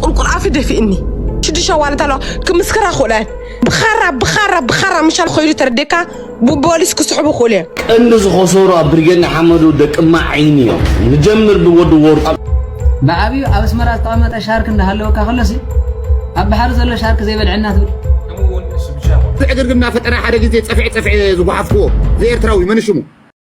ቁርቁር ኣፊ ደፊእኒ ሽዱሽተ ዋለት ኣለዋ ክምስክራ ክእለ ብኻራ ብኻራ ብኻራ ምሻል ኮይሉ ተረዴካ ብፖሊስ ክስሕቡ ክእሉ እዮም ቀንዲ ዝኸሰሩ ኣብ ብርጌድ ንሓመዱ ደቂ ማዓይኒ እዮም ንጀምር ብወዲ ወርቁ ብዓብዩ ኣብ ኣስመራ ዝተቐመጠ ሻርክ እንዳሃለወካ ከሎሲ ኣብ ባሕሪ ዘሎ ሻርክ ዘይበልዐና ትብል ብዕግርግር እናፈጠረ ሓደ ግዜ ፀፍዒ ፀፍዒ ዝጓሓፍክዎ ዘኤርትራዊ መን ሽሙ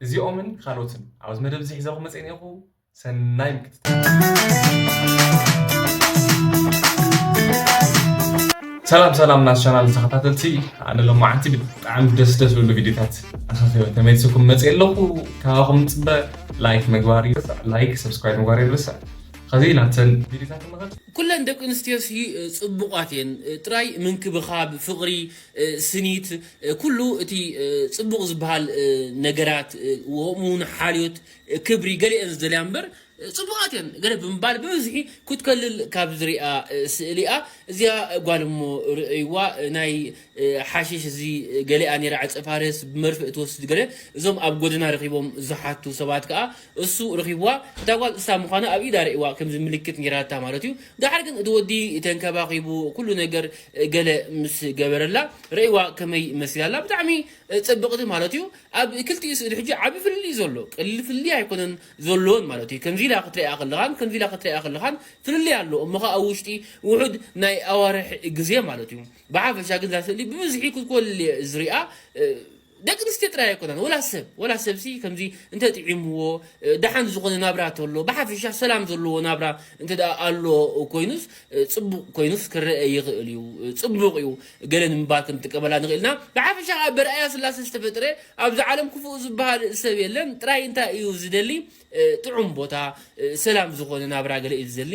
እዚኦምን ካልኦትን ኣብዚ መደብ እዚ ሒዘኩም መፅየ እኒኦኹ ሰናይ ምክትታል ሰላም ሰላም ናስ ቻናል ተኸታተልቲ ኣነ ሎማዓንቲ ብጣዕሚ ደስ ደስ ዝብሉ ቪድዮታት ኣኻኺበ ተመልስኩም መፅየ ኣለኹ ካባኹም ንፅበ ላይክ ምግባር ይርስዕ ላይክ ሰብስክራይብ ምግባር ይርስዕ ከዚ ናተን ቪድዮታት ንኸት ኩለን ደቂ ኣንስትዮ ጽቡቓት እየን ጥራይ ምንክብኻብ ፍቕሪ ስኒት ኩሉ እቲ ጽቡቕ ዝበሃል ነገራት ወሙን ሓልዮት ክብሪ ገሊኤን ዝደልያ እምበር ጽቡቓት እየን ገለ ብምባል ብብዝሒ ክትከልል ካብ ዝርኣ ስእሊ እያ እዚኣ ጓል እሞ ርእይዋ ናይ ሓሽሽ እዚ ገሊኣ ኔራ ዕጸ ፋርስ ብመርፍእ ትወስድ ገለ እዞም ኣብ ጎደና ረኺቦም ዝሓቱ ሰባት ከኣ እሱ ረኺብዋ እታ ጓል እሳ ምዃና ኣብ ኢዳ ርእይዋ ከምዚ ምልክት ኔራታ ማለት እዩ ዳሓር ግን እቲ ወዲ ተንከባኺቡ ኩሉ ነገር ገለ ምስ ገበረላ ረእይዋ ከመይ መሲላ ኣላ ብጣዕሚ ጽብቕቲ ማለት እዩ ኣብ ክልቲኡ ስእሊ ሕጂ ዓቢ ፍልልይ እዩ ዘሎ ቀሊል ፍልልይ ኣይኮነን ዘሎወን ማለት እዩ ከምዚ ኢላ ክትርእያ ከለኻን ከምዚ ኢላ ክትርእያ ከለኻን ፍልልይ ኣሎ እሞ ከኣ ኣብ ውሽጢ ውሑድ ናይ ኣዋርሕ ግዜ ማለት እዩ ብሓፈሻ ግን እዛ ስእሊ ብብዝሒ ክትኮል እየ ዝሪኣ ደቂ ኣንስትዮ ጥራይ ኣይኮናን ወላ ሰብ ወላ ሰብሲ ከምዚ እንተ ጥዒምዎ ደሓን ዝኾነ ናብራ ተሎ ብሓፈሻ ሰላም ዘለዎ ናብራ እንተ ኣሎ ኮይኑስ ጽቡቕ ኮይኑስ ክረኤ ይኽእል እዩ ጽቡቕ እዩ ገለ ንምባል ክንጥቀመላ ንኽእል ኢና ብሓፈሻ ከኣ በርኣያ ስላሰ ዝተፈጥረ ኣብዚ ዓለም ክፉእ ዝበሃል ሰብ የለን ጥራይ እንታይ እዩ ዝደሊ ጥዑም ቦታ ሰላም ዝኾነ ናብራ ገለ እዩ ዝደሊ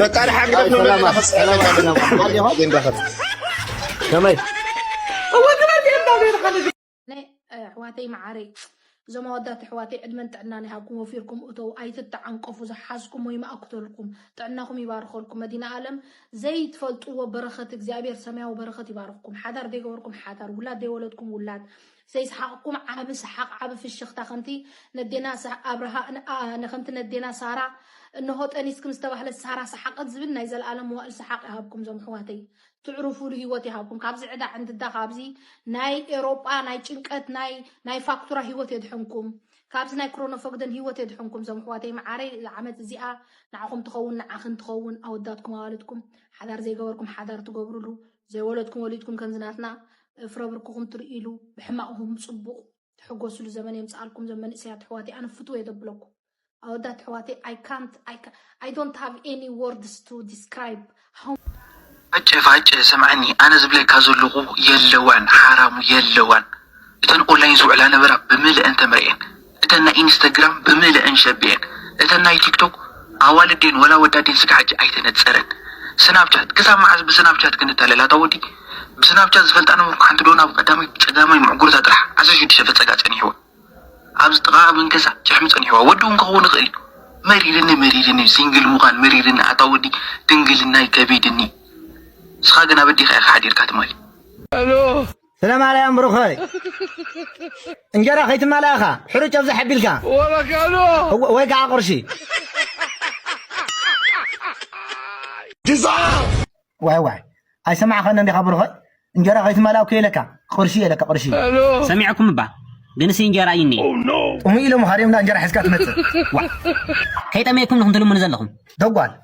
መቃል ሓግደፍ ነው ለና ፈጽ ከመይ ኣሕዋተይ መዓረይ እዞም ኣወዳት ኣሕዋተይ ዕድመን ጥዕናን ይሃብኩም ወፊርኩም እተው ኣይትተዓንቀፉ ዝሓዝኩም ወይ ማኣክተልኩም ጥዕናኹም ይባርኸልኩም መዲና ኣለም ዘይትፈልጥዎ በረኸት እግዚኣብሔር ሰማያዊ በረኸት ይባርኽኩም ሓዳር ዘይገበርኩም ሓዳር ውላድ ዘይወለድኩም ውላድ ዘይሰሓቕኩም ዓቢ ሰሓቕ ዓቢ ፍሽኽታ ከምቲ ነዴና ኣብርሃ ን ከምቲ ነዴና ሳራ እንሆ ጠኒስክን ዝተባህለት ሳራ ሰሓቐት ዝብል ናይ ዘልኣለም መዋእል ሰሓቕ ይሃብኩም ዞም ኣሕዋተይ ትዕሩፉሉ ሂወት ይሃብኩም ካብዚ ዕዳ ዕንድዳ ካብዚ ናይ ኤሮጳ ናይ ጭንቀት ናይ ናይ ፋክቱራ ሂወት የድሕንኩም ካብዚ ናይ ክሮኖፎግደን ሂወት የድሕንኩም ዞም ኣሕዋተይ መዓረይ ዓመት እዚኣ ንዓኹም ትኸውን ንዓኽን ትኸውን ኣወዳትኩም ኣዋልድኩም ሓዳር ዘይገበርኩም ሓዳር ትገብሩሉ ዘይወለድኩም ወሊድኩም ከምዚ ናትና ፍረ ብርክኹም ትርእይሉ ብሕማቕኹም ጽቡቕ ትሕጎስሉ ዘመን የምጽኣልኩም ዘም መንእሰያት ኣሕዋተይ ኣነ ፍትው እየ ዘብለኩም ኣወዳት ኣሕዋተይ ኣይ ካንት ኣይ ኣይ ዶንት ሃቭ ኤኒ ወርድስ ቱ ዲስክራይብ ሃው ፋጨ ፋጨ ስምዐኒ ኣነ ዝብለካ ዘለኹ የለዋን ሓራሙ የለዋን እተን ኦንላይን ዝውዕላ ነበራ ብምልእን ተመርዕየን እተን ናይ ኢንስተግራም ብምልእን ሸቢኤን እተን ናይ ቲክቶክ ኣዋልድ ድየን ወላ ኣወዳት ድየን ስጋዕ ሕጂ ኣይተነጸረን ስናብቻት ክሳብ መዓዝ ብስናብቻት ክንታለል ኣታ ወዲ ብስናብቻት ዝፈልጣ ነበርኩ ሓንቲ ዶና ኣብ ቀዳማይ ጸጋማይ ምዕጉርታ ጥራሕ ዓሰርተ ሽዱሽተ ፈጸጋ ጸኒሕዋ ኣብዚ ጥቓ መንከሳ ጭሕሚ ጸኒሕዋ ወዲ እውን ክኸውን ይኽእል እዩ መሪርኒ መሪርኒ ሲንግል ምዃን መሪርኒ ኣታ ወዲ ድንግልናይ ከቢድኒ ንስኻ ግን ኣበዲኻ ኢኻ ሓዲርካ ትማሊ ስለ ማርያም ብሩኸይ እንጀራ ከይትማላእ ኢኻ ሕሩጭ ኣብዛሕ ኣቢልካ ወይ ከዓ ቁርሲ ዋይ ዋይ ኣይሰማዕኸን እንዲኻ ብሩኸይ እንጀራ ከይትማላእ እኮ የለካ ቁርሲ የለካ ቁርሲ ሰሚዕኩም እባ ግን ሲ እንጀራ እዩ እኒኤ ጥሙይ ኢሎም ሃሪምና እንጀራ ሒዝካ ትመፅእ ከይጠመየኩም ንኹም ትልምኑ ዘለኹም ደጓል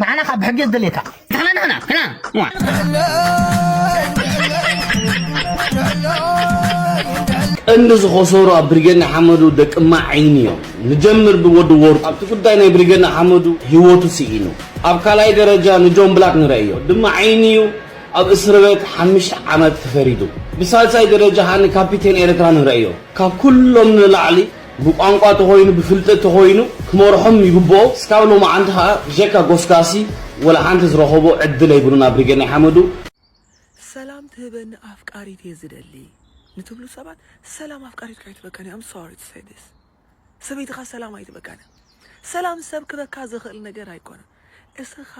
ንዓና ካብ ብሕጊ ዝደልየካ ንሕና ንሕና ቀንዲ ዝኸሰሩ ኣብ ብሪጌድ ንሓመዱ ደቂ ማዒን እዮም። ንጀምር ብወዲ ወርቁ ኣብቲ ጉዳይ ናይ ብሪጌድ ንሓመዱ ህይወቱ ስኢኑ። ኣብ ካልኣይ ደረጃ ንጆን ብላክ ንርእዮ ድማ ዓይኒ እዩ ኣብ እስርቤት ሓምሽተ ዓመት ተፈሪዱ። ብሳልሳይ ደረጃ ከኣ ንካፒቴን ኤርትራ ንርእዮ ካብ ኩሎም ንላዕሊ ብቋንቋ ተኾይኑ ብፍልጠት ተኾይኑ ክመርሖም ይግብኦ እስካብ ሎማዓንቲ ከኣ ብጀካ ጎስጋሲ ወላሓንቲ ዝረኸቦ ዕድል ኣይብሉን ኣብ ሪገ ናይሓመዱ። ሰላም ትህበኒ ኣፍቃሪት እየ ዝደሊ ንትብሉ ሰባት ሰላም ኣፍቃሪትካ ኣይትበካን እያ I'm sorry to say this ሰበይትኻ ሰላም ኣይትበካን እያ ሰላም ሰብ ክበካ ዝኽእል ነገር ኣይኮነን እስኻ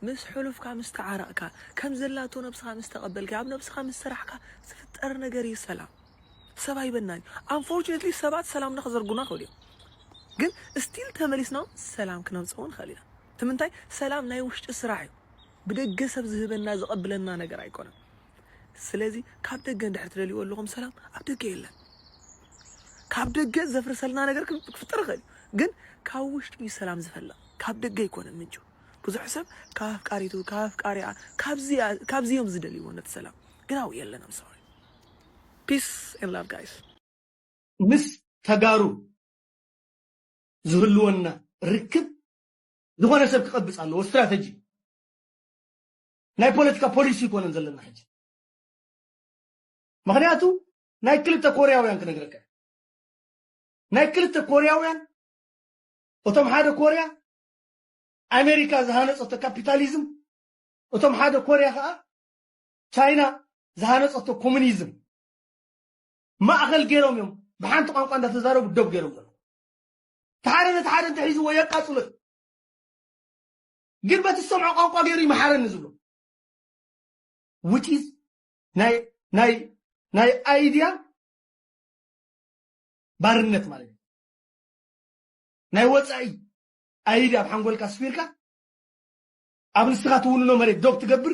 ምስ ሕሉፍካ ምስ ተዓረቕካ ከምዘላቶ ነብስኻ ምስ ተቐበልካያ ኣብ ነብስኻ ምስ ሰራሕካ ዝፍጠር ነገር እዩ ሰላም ሰብ ኣይበናን እዩ ኣንፎርቹነትሊ ሰባት ሰላም ዶ ክዘርጉና ይኽእሉ እዮም ግን ስቲል ተመሊስና እውን ሰላም ክነምፅእ እውን ንኽእል ኢና እቲ ምንታይ ሰላም ናይ ውሽጢ ስራሕ እዩ ብደገ ሰብ ዝህበና ዘቐብለና ነገር ኣይኮነን ስለዚ ካብ ደገ እንድሕር ትደልይዎ ኣለኹም ሰላም ኣብ ደገ የለን ካብ ደገ ዘፍርሰልና ነገር ክፍጠር ይኽእል ግን ካብ ውሽጢ እዩ ሰላም ዝፈልቕ ካብ ደገ ኣይኮነን ምንጩ ብዙሕ ሰብ ካብ ኣፍቃሪቱ ካብ ኣፍቃሪኣ ካብዚ እዮም ዝደልይዎ ነቲ ሰላም ግን ኣብኡ የለን ኣምሰሪ ፒስ ኤንድ ላቭ ጋይስ። ምስ ተጋሩ ዝህልወና ርክብ ዝኾነ ሰብ ክቐብጽ ኣለዎ ስትራተጂ እዩ ናይ ፖለቲካ ፖሊሲ ኣይኮነን ዘለና ሕጂ ምኽንያቱ ናይ ክልተ ኮርያውያን ክነግረካ እየ ናይ ክልተ ኮርያውያን እቶም ሓደ ኮርያ ኣሜሪካ ዝሃነጸቶ ካፒታሊዝም እቶም ሓደ ኮርያ ከኣ ቻይና ዝሃነፀቶ ኮሙኒዝም ማእኸል ገይሮም እዮም ብሓንቲ ቋንቋ እንዳተዛረቡ ደብ ገይሮም ዘሎ ተሓደ ነቲ ሓደ እንተሒዝዎ የቃፅሎ እዩ ግን በቲ ዝሰምዖ ቋንቋ ገይሩ ይመሓረኒ ዝብሎ ውጪዝ ናይ ናይ ናይ አይዲያ ባርነት ማለት እዩ ናይ ወፃኢ አይዲያ ኣብ ሓንጎልካ ስፊርካ ኣብ ንስኻ ትውንኖ መሬት ዶብ ትገብር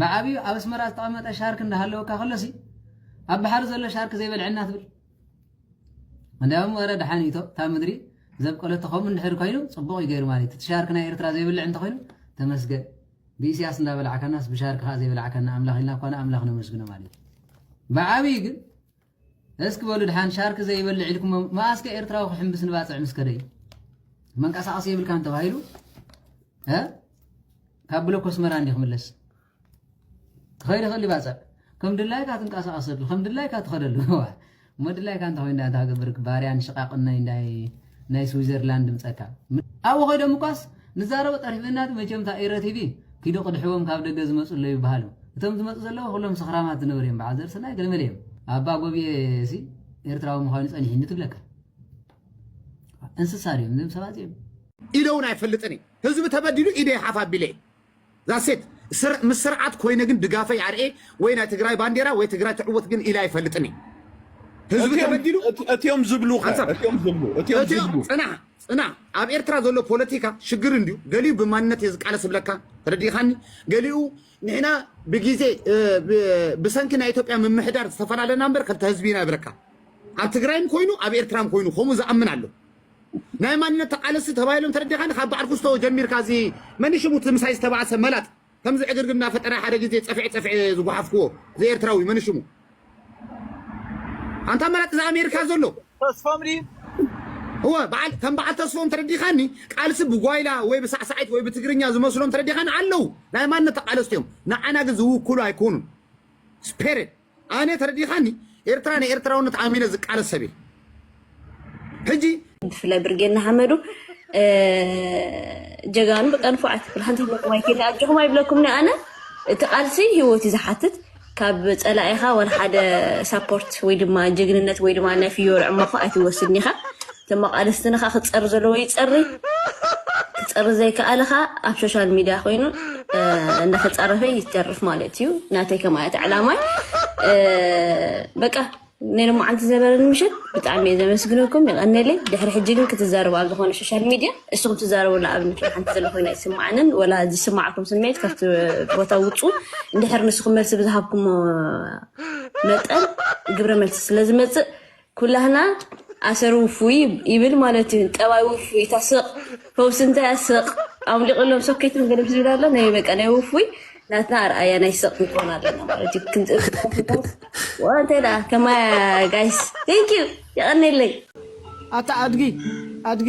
ብዓብዩ ኣብ ኣስመራ ዝተቐመጠ ሻርክ እንዳሃለወካ ከሎሲ ኣብ ባሕሪ ዘሎ ሻርክ ዘይበልዐና ትብል እንዲያውም ወረ ደሓን እዩ እታ ምድሪ ዘብቀለቶ ከምኡ እንድሕር ኮይኑ ፅቡቕ እዩ ገይሩ ማለት እቲ ሻርክ ናይ ኤርትራ ዘይብልዕ እንተኮይኑ ተመስገን ብኢስያስ እንዳበላዕካናስ ብሻርክ ከዓ ዘይበላዕካና ኣምላኽ ኢልና እኳ ንኣምላኽ ነመስግኖ ማለት እዩ ብዓብዪ ግን እስክ በሉ ድሓን ሻርክ ዘይበልዕ ኢልኩሞ መኣስ ከ ኤርትራዊ ክሕምብስ ንባጽዕ ምስ ከደ መንቀሳቀሲ የብልካን ተባሂሉ እ ካብ ብሎክ ኣስመራ እንዲ ክምለስ ክኸይድ ይኽእል ይባጽዕ ከም ድላይካ ትንቀሳቀሰሉ ከም ድላይካ ትኸደሉ እሞ ድላይካ እንተ ኮይንዳ እንታይ ክገብር ባርያን ሽቃቅን ናይ እንዳይ ናይ ስዊዘርላንድ ድምጸካ ኣብኡ ከይዶም እኳስ ንዛረቦ ጠሪፊናት መቸም እታ ኤረ ቲቪ ኪዱ ቅድሕዎም ካብ ደገ ዝመጹ ኣለዉ ይበሃሉ እቶም ዝመጹ ዘለዉ ኩሎም ሰኽራማት ዝነበሩ እዮም በዓል ዘርእሰናይ ገለመለ እዮም ኣባ ጎብየ ሲ ኤርትራዊ ምዃኑ ጸኒሒኒ ትብለካ እንስሳ ድዮም እዞም ሰባት እዚኦም ኢለውን ኣይፈልጥን ህዝቢ ተበዲሉ ኢደይ ሓፍ ኣቢለ That's it ምስ ስርዓት ኮይነ ግን ድጋፈይ ኣርኤ ወይ ናይ ትግራይ ባንዴራ ወይ ትግራይ ትዕወት ግን ኢለ ኣይፈልጥን እየ ህዝቢ ተበዲሉ እትዮም ዝብሉ እትዮም ዝብሉ እትዮም ዝብሉ ፅናሕ ፅናሕ ኣብ ኤርትራ ዘሎ ፖለቲካ ሽግር እንድዩ ገሊኡ ብማንነት እየ ዝቃለስ ዝብለካ ተረዲኻኒ ገሊኡ ንሕና ብግዜ ብሰንኪ ናይ ኢትዮጵያ ምምሕዳር ዝተፈላለና እምበር ከልተ ህዝቢ ኢና ይብለካ ኣብ ትግራይም ኮይኑ ኣብ ኤርትራም ኮይኑ ከምኡ ዝኣምን ኣሎ ናይ ማንነት ተቃለስቲ ተባሂሎም ተረዲኻኒ ካብ በዓል ኩስቶ ጀሚርካ እዚ መን ሽሙ እቲ ምሳይ ዝተባእሰ መላጥ ከምዚ ዕግርግር እናፈጠረ ሓደ ግዜ ፀፍዒ ፀፍዒ ዝጓሓፍክዎ ዘኤርትራዊ መን ሽሙ ኣንታ መላጥ እዚ ኣሜሪካ ዘሎ ተስፎም ድዩ እወ በዓል ከም በዓል ተስፎም ተረዲኻኒ ቃልሲ ብጓይላ ወይ ብሳዕሳዒት ወይ ብትግርኛ ዝመስሎም ተረዲኻኒ ኣለው ናይ ማንነት ተቃለስቲ እዮም ንዓና ግን ዝውክሉ ኣይኮኑን ስፔሬት ኣነ ተረዲኻኒ ኤርትራ ንኤርትራውነት ኣሚነ ዝቃለስ ሰብ እየ ሕጂ ብፍላይ ብርጌድ ንሓመዱ ጀጋኑ በቃ ንፉዓት ሓንቲ ይብለኩም ኣይከይድ ኣጆኹም ኣይብለኩም ኣነ እቲ ቃልሲ ሂወት እዩ ዝሓትት ካብ ፀላኢኻ ወላ ሓደ ሳፖርት ወይ ድማ ጅግንነት ወይ ድማ ናይ ፍዮሪ ዕማኾ ኣይትወስድን ኢኻ ተመቃለስቲ ንካ ክፀሪ ዘለዎ ይፀሪ ክፀሪ ዘይከኣለ ከኣ ኣብ ሾሻል ሚድያ ኮይኑ እንዳተፃረፈ ይተርፍ ማለት እዩ ናተይ ከማያት ዕላማይ በቃ ናይ ሎማዓንቲ ዝነበረኒ ምሸት ብጣዕሚ እየ ዘመስግነኩም ይቐነለይ ድሕሪ ሕጂ ግን ክትዛረቡ ኣብ ዝኾነ ሶሻል ሚድያ እሱኹም ትዛረቡላ ኣብነት ሓንቲ ዘሎ ኮይና ይስማዓንን ወላ ዝስማዕኩም ስሜት ካብቲ ቦታ ውፁ እንድሕር ንስኹም መልሲ ብዝሃብኩሞ መጠን ግብረ መልሲ ስለ ዝመፅእ ኩላህና ኣሰር ውፉይ ይብል ማለት እዩ ጠባይ ውፉይ እታ ስቕ ፈውሲ እንታይ ኣስቕ ኣውሊቕሎም ሶኬት መገደብ ዝብል ኣሎ ናይ በቃ ናይ ውፉይ ናትና ኣርኣያ ናይ ስቕ ንኮን ኣለና ማለት እዩ እንታይ ደኣ ከማያ ጋይስ ቴንኪዩ የቐኒለይ ኣታ ኣድጊ ኣድጊ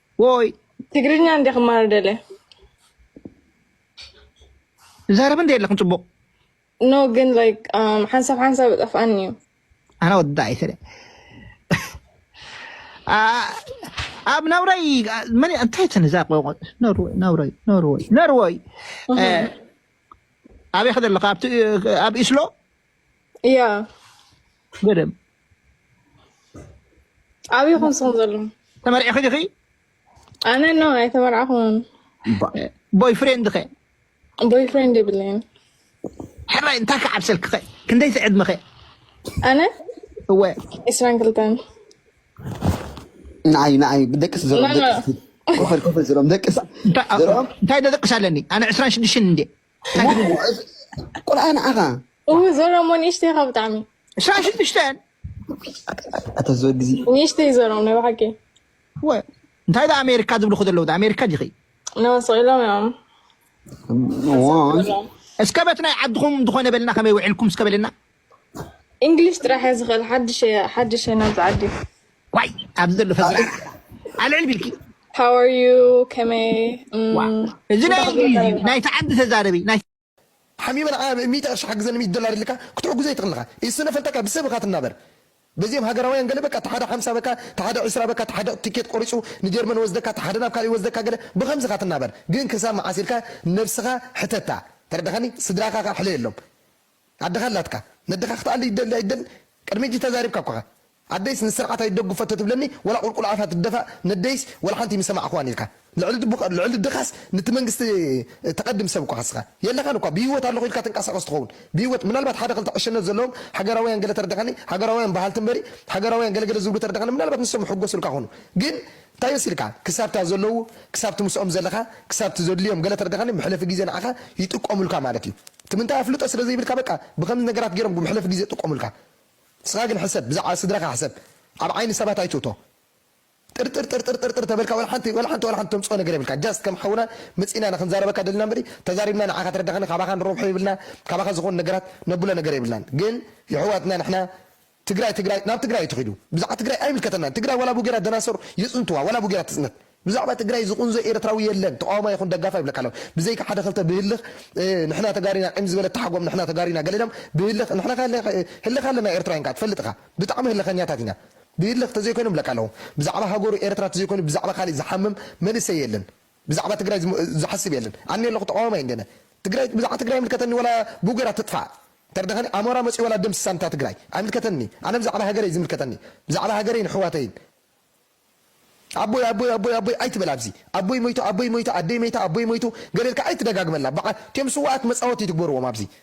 ወይ ትግርኛ እንዴ ክማር ደለ ዛረብ እንዴ የለክን ፅቡቅ ኖ ግን ላይክ ሓንሳብ ሓንሳብ ጠፍኣኒ እዩ ኣነ ወዳይ ስለ ኣብ ናብራይ መን እንታይ ተነዛ ቆቆ ኖርወይ ናብራይ ኖርወይ ኖርወይ ኣበይ ከደለካ ኣብ ኢስሎ እያ ገደም ኣበይ ኮን ስኹም ዘሎ ተመርዒኺ ዲኺ ኣነ ኖ ኣይተመርዓኹን ቦይ ፍሬንድ ኸ ቦይ ፍሬንድ የብለይን ሕራይ እንታይ ክዓብሰልኪ ኸ ክንደይ ትዕድሚ ኸ ኣነ እወ ዕስራን ክልተን ንዓይ ንዓይ ደቅስ ዘርኦም ኮፈል ኮፈል ዘርኦም ደቅስ ዘርኦም እንታይ ደቅስ ኣለኒ ኣነ ዕስራን ሽዱሽተን እንዴ ቁርኣን ኣኻ እው ዘረሞ ንእሽተይ ካብ ብጣዕሚ ሻሽ ንእሽተን ኣታ ዝወ ግዜ ንእሽተይ ዘረም ናይ ብሓቂ እንታይ ዳ ኣሜሪካ ዝብሉ ከዘለዉ ኣሜሪካ ዲኺ ነወስቂሎም እዮም እስከ በት ናይ ዓድኹም ዝኾነ በልና ከመይ ውዕልኩም እስከ በልና ኢንግሊሽ ጥራሕ እየ ዝኽእል ሓድሽ እየ ሓድሽ እየ ናብዚ ዓዲ ዋይ ኣብዚ ዘሎ ህዝቢ ኣልዕል ቢልኪ How are you ከመይ እዚ ናይ ኢንግሊዝ እዩ ናይቲ ዓዲ ተዛረቢ ናይ ሓሚመ ንዓ ሚእቲ ቅርሺ ሓግዘኒ ሚእቲ ዶላር ኢልካ ክትሕግዞ ኣይትኽእልኻ ኢስነ ፈልጠካ ብሰብ ኢኻ ትናበር በዚኦም ሃገራውያን ገለ በቃ እቲ ሓደ ሓምሳ በካ እቲ ሓደ ዕስራ በካ እቲ ሓደ ቲኬት ቆሪጹ ንጀርመን ወስደካ እቲ ሓደ ናብ ካልእ ይወስደካ ገለ ብኸምዚ ኢኻ ትናበር ግን ክሳብ መዓስ ኢልካ ነብስኻ ሕተታ ተረዳኻኒ ስድራኻ ከኣ ሕለየሎም ኣደኻ ኣላትካ ነደኻ ክትኣሊ ይደሊ ኣይደልን ቅድሚ ሕጂ ተዛሪብካ እኮ ኢኻ ኣደይስ ንስርዓት ኣይደጉፈቶ ትብለኒ ወላ ቁልቁል ኣፋ ትደፋእ ነደይስ ወላሓንቲ ኣይምሰማዕክዋን ኢልካ ልዕሊ ድኻስ ንቲ መንግስቲ ተቀድም ሰብ እኮ ኢኻ ንስኻ የለኻን እኳ ብሂወት ኣለኹ ኢልካ ትንቃሳቀስ ትኸውን ብሂወት ምናልባት ሓደ ክልተ ዕሸነት ዘለዎም ሃገራውያን ገለ ተረዳካኒ ሃገራውያን ባሃልቲ እምበሪ ሃገራውያን ገለ ገለ ዝብሉ ተረዳካኒ ምናልባት ንሶም ይሕጎሱልካ ይኾኑ ግን ታይ መሲልካ ክሳብታ ዘለዉ ክሳብቲ ምስኦም ዘለኻ ክሳብቲ ዘድልዮም ገለ ተረዳካኒ መሕለፊ ግዜ ንዓኻ ይጥቀሙልካ ማለት እዩ ትምንታይ ኣፍልጦ ስለ ዘይብልካ በቃ ብከምዚ ነገራት ጌሮም ብመሕለፊ ግዜ ጥቆሙልካ ንስካ ግን ሕሰብ ብዛዕባ ስድራካ ሕሰብ ኣብ ዓይኒ ሰባት ኣይትእቶ ጥርጥር ጥርጥር ጥርጥር ተበልካ ወላ ሓንቲ ወላ ሓንቲ ወላ ሓንቲ ተምጽኦ ነገር የብልካ ጃስት ከም ሓውና መጺእና ኢና ክንዛረበካ ደሊና እምበሪ ተዛሪብና ንዓካ ተረዳካኒ ካባካ ንረብሖ የብልና ካባካ ዝኮን ነገራት ነብሎ ነገር የብልናን ግን የሕዋትና ንሕና ትግራይ ትግራይ ናብ ትግራይ እዩ ተኺዱ ብዛዕባ ትግራይ ኣይምልከተናን ትግራይ ዋላ ቡጌራ ደናሶር ይጽንትዋ ዋላ ቡጌራ ትጽነት ብዛዕባ ትግራይ ዝቁንዞ ኤረትራዊ የለን ተቃዋማይ ይኹን ደጋፋይ ይብለካ ኣለኹ ብዘይካ ሓደ ክልተ ብህልኽ ንሕና ተጋሩ ኢና ዒም ዝበለ ተሓጎም ንሕና ተጋሩ ኢና ገለ ኢሎም ብህልኽ ንሕና ከ ህልኽ ኣለና ኤረትራውያን ከኣ ትፈልጥ እኻ ብጣዕሚ ህልኸኛታት ኢና ብህልኽ ተዘይኮይኖም ይብለካ ኣለኹ ብዛዕባ ሃገሩ ኤረትራ ተዘይኮይኑ ብዛዕባ ካሊእ ዝሓምም መንእሰይ የለን ብዛዕባ ትግራይ ዝሓስብ የለን ኣነ ኣለኩ ተቃዋማይ እንዲነ ትግራይ ብዛዕባ ትግራይ ኣይምልከተኒ ወላ ቡገራ ትጥፋእ እንተደከኒ ኣሞራ መፅዩ ወላ ደም ስሳን እታ ትግራይ ኣይምልከተኒ ኣነ ብዛዕባ ሃገረይ እዩ ዝምልከተኒ ብዛዕባ ሃገረይን ኣሕዋተይን ኣቦይ ኣቦይ ኣቦይ ኣቦይ ኣይትበል ኣብዚ ኣቦይ ሞይቱ ኣቦይ ሞይቱ ኣደይ መይታ ኣቦይ ሞይቱ ገለ ኢልካ ኣይትደጋግመላ በዓ እትዮም ስዋኣት መፃወቲ ትግበርዎም ኣብዚ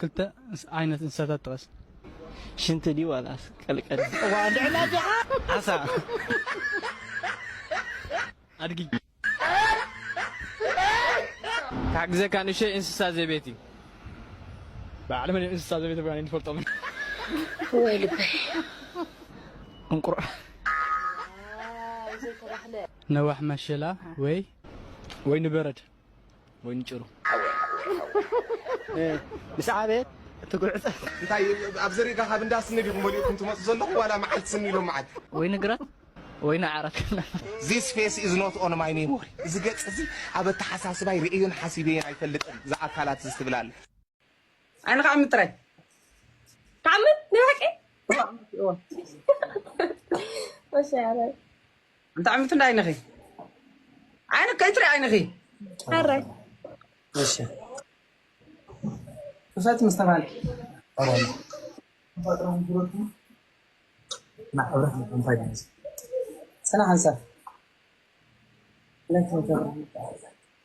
ክልተ ዓይነት እንስሳታት ጥቐስ። ሽንቲ ድዩ ዋላስ ቀልቀል? እዋእ እንድዒ ናጃ ዓሳ። ኣድጊ። ክሓግዘካ ንእሽተይ እንስሳ ዘቤት እዩ። በዓል መን እዮም እንስሳ ዘቤት እባ ኣይንፈልጦምን። ወይ ልበይ። እንቁር። ነዋሕ መሸላ ወይ ወይ ንበረድ። ወይኒ ጭሩ ምስ ዓበየት ትጉዕጸ እንታይ ኣብ ዘሪጋ ካብ እንዳ ስኒ ዲኹም በሊዕኩም ትመጹ ዘለኹም ዋላ መዓልቲ ስኒ ኢሎም መዓልቲ ወይኒ ግራት ወይኒ ዓራት ዚስ ፌስ ኢዝ ኖት ኦን ማይ ሜሞሪ እዚ ገጽ እዚ ኣብ ኣተሓሳስባይ ርእዮን ሓሲበዮን ኣይፈልጥን ዝኣካላት እዚ ትብላለ ኣነ ከዓ ምጥራይ ተዓምት ንባቂ እንተ ዓምት እንዳ ዓይንኺ ዓይነ ከይትሪ ዓይንኺ ኣራይ ክፈት ምስ ተባለ ሰና ሓንሳብ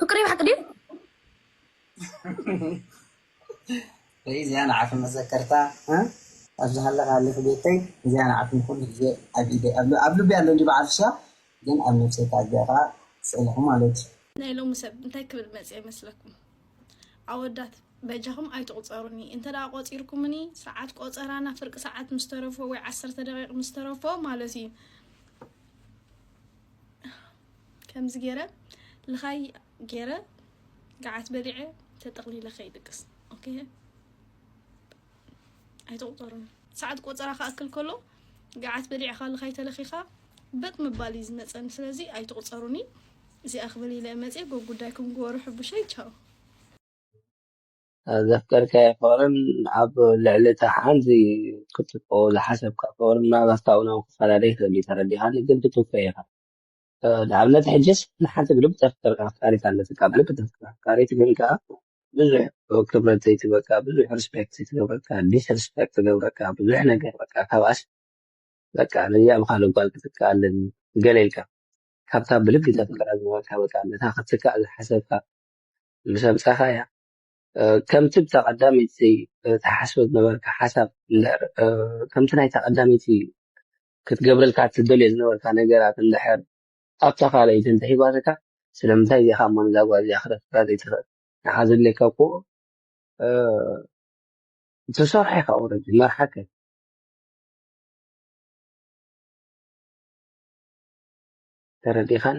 ፍቅሪ ብሓቂ ድዩ? ወይ እዚኣ ንዓኺ መዘከርታ ኣብ ዝሃለኻ ሃሊኺ ቤተይ እዚኣ ንዓኺ ንኹሉ ግዜ ኣብ ኢደይ ኣብ ልቢ ኣሎ እንጂ በዓል ፍሽያ ግን ኣብ ነብሰይ ከኣ እዚኣ ከኣ ስእልኺ ማለት እዩ ናይ ሎሚ ሰብ እንታይ ክብል መጽ ይመስለኩም ኣወዳት በጃኹም ኣይትቑፀሩኒ እንተ ደኣ ቆፂርኩምኒ ሰዓት ቆፀራና ፍርቂ ሰዓት ምስ ተረፎ ወይ ዓሰርተ ደቂቕ ምስ ተረፎ ማለት እዩ ከምዚ ገይረ ልኻይ ገይረ ገዓት በሊዐ ተጠቕሊለ ከይድቅስ ኦኬ ኣይትቑፀሩን ሰዓት ቆፀራ ክኣክል ከሎ ገዓት በሊዕኻ ልኻይ ተለኺኻ በጥ ምባል እዩ ዝመፀኒ ስለዚ ኣይትቑፀሩኒ እዚኣ ክብል ኢለ መፅየ ጎብ ጉዳይኩም ግበሩ ሕቡሸይ ቻው ዘፍቀርካዮ ፍቕርን ኣብ ልዕሊ እታ ሓንቲ ክትጥቆ ዝሓሰብካ ፍቕርን ምናልባት ካብኡ ናብ ክፈላለ ይኽእል እዩ ተረዲኻኒ ግን ትትኮ ኢኻ ንኣብነት ሕጅስ ንሓንቲ ብልቢ ተፍቅርካ ኣፍቃሪት ኣለትካ ብልቢ ተፍቅር ኣፍቃሪት ግን ከኣ ብዙሕ ክብረት ዘይትበካ ብዙሕ ሪስፔክት ዘይትገብረካ ዲስሪስፔክት ትገብረካ ብዙሕ ነገር በቃ ካብኣስ በቃ ነዚኣ ብካልእ ጓል ክትከኣልን ገለ ኢልካ ካብታ ብልቢ ተፍቅራ ዝበልካ በቃ ነታ ክትካእ ዝሓሰብካ ምስ ኣምጻኻያ ከምቲ ብታ ቀዳመይቲ ትሓስቦ ዝነበርካ ሓሳብ እንድሕር ከምቲ ናይታ ቀዳመይቲ ክትገብረልካ ትደልዮ ዝነበርካ ነገራት እንድሕር ኣብታ ካልኣይቲ እንተሂባትካ ስለምንታይ እዚኣ ካብ መን እዛ ጓል እዚኣ ክተፍቅራ ዘይትኽእል ንዓ ዘድልየካ እኮ ትሰርሖ ኢኻ ኦረዲ መርሓከ ተረዲኻን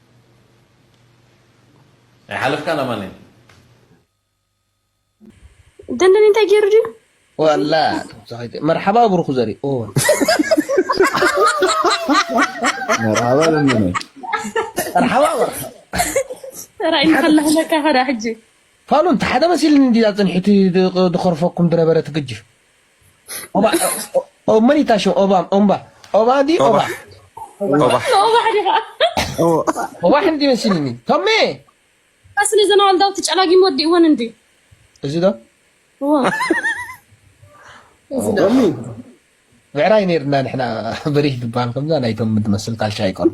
ኣይሓለፍካን ኣማኒ ደንደን እንታይ ገይሩ ድዩ ዋላ መርሓባ ብሩኹ ዘርኢ መርሓባ ደንደነ መርሓባ ራእይ ንኸላህለካ ከዳ ሕጂ ፋሉን ሓደ መሲልኒ እንዲ ፅንሒቲ ድኸርፈኩም ድነበረ ትግጅፍ ኦባ ኦብ መን ይታሽም ኦባ ኦምባ ኦባ ዲ ኦባ ኦባ ኦባ ሕንዲ መስልኒ ቶሜ ስለ ዘናዋልዳው ትጨላጊም ወዲ ይሆን እንዲ እዚ ዶ ብዕራይ ነርና ንሕና በሪህ ዝበሃል ከምዛ ናይቶም ትመስል ካልሻ ኣይቀርቡ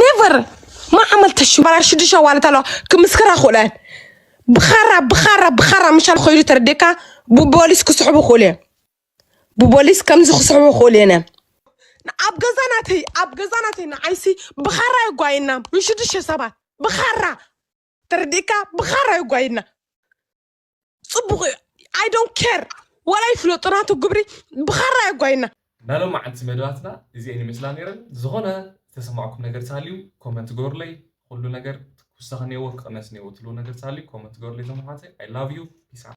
ነቨር ማዕመል ተሽባራር ሽዱሽተ ዋለት ኣለዋ ክምስክራ ክእለን ብኻራ ብኻራ ብኻራ ምሻል ኮይሉ ተረዴካ ብቦሊስ ክስሕቡ ክእሉ እዮም ብቦሊስ ከምዚ ክስሕቡ ክእሉ እዮም ኣብ ገዛ ናተይ ኣብ ገዛ ናተይ ንዓይሲ ብኻራ የጓየና ንሽዱሽተ ሰባት ብኻራ ተረዴካ ብኻራ የጓየና ፅቡቅ እዩ ኣይ ዶንት ኬር ዋላ ይፍለጡ ናቱ ግብሪ ብኻራ የጓይና። ናይ ሎማዓንቲ መደባትና እዚኤን ይመስላ ነይረን ዝኾነ ዝተሰማዕኩም ነገር ተሃልዩ ኮመንት ግበሩለይ ኹሉ ነገር ክውሰኽ እኒኦዎ ክቕነስ እኒኦዎ ትብልዎ ነገር ተሃልዩ ኮመንት ግበሩለይ እቶም ኣሕዋተይ i love you peace out